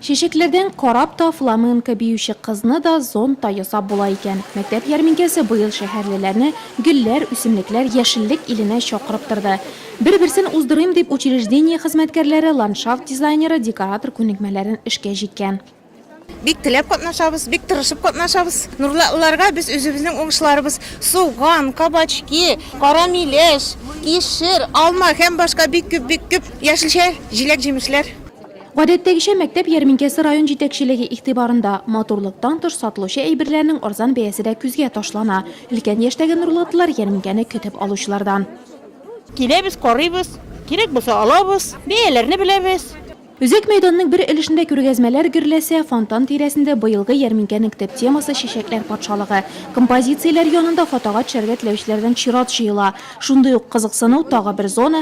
Чәчәкләрдән карап та фламенко биюче кызны да зонт та ясап була икән. Мәктәп ярминкәсе быел шәһәрлеләрне гөлләр, үсемлекләр, яшеллек иленә чакырып торды. Бер-берсен уздырыйм дип, учреждение хезмәткәрләре, ландшафт дизайнеры, декоратор күнекмәләрен эшкә җиккән. Бик теләп катнашабыз, бик тырышып катнашабыз. Нурлатлыларга без үзебезнең уңышларыбыз, суган, кабачки, кара миләш, кишер, алма һәм башка бик күп, бик күп яшелчә, җиләк-җимешләр. Гадәттәгечә, мәктәп ярминкәсе район җитәкчелеге игътибарында. Матурлыктан тыш, сатылучы әйберләрнең арзан бәясе дә күзгә ташлана. Өлкән яшьтәге нурлатлылар ярминкәне көтеп алучылардан. Киләбез, карыйбыз, кирәк булса алабыз. Бәяләрне беләбез. Үзәк мәйданның бер өлешендә күргәзмәләр гөрләсә, фонтан тирәсендә быелгы ярминкәнең төп темасы, чәчәкләр патшалыгы. Композицияләр янында фотога төшәргә теләүчеләрдән чират җыела. Шундый ук кызыксыну, тагы бер зона,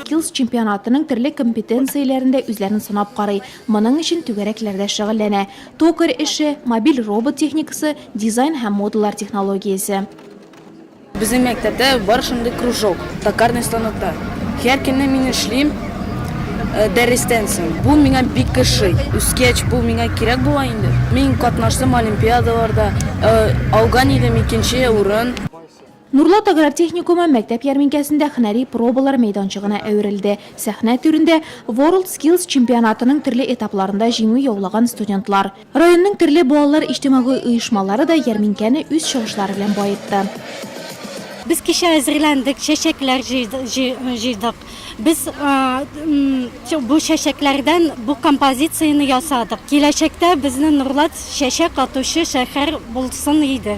Skills чемпионатының төрле компетенцияләрендә үзләрен сынап карый, моның өчен түгәрәкләрдә шөгыльләнә, токарь эше, мобиль робот техникасы, дизайн һәм модалар технологиясе. Безнең мәктәптә бар шундый кружок, токарный станокта. Һәр көнне мин эшлим дәрестән соң. Бу миңа бик ошый. Үскәч, бу миңа кирәк була инде. Мин катнаштым олимпиадаларда, алган идем икенче урын. Нурлат аграр техникумы мәктәп ярминкәсендә һөнәри пробалар мәйданчыгына әверелде. Сәхнә түрендә, Ворлд Скиллс чемпионатының төрле этапларында җиңү яулаган студентлар. Районның төрле балалар иҗтимагый оешмалары да ярминкәне үз чыгышлары белән баетты. Без кичә әзерләндек, чәчәкләр җыйдык. Без бу чәчәкләрдән бу композицияне ясадык. Киләчәктә безнең Нурлат чәчәк атучы шәһәр булсын иде.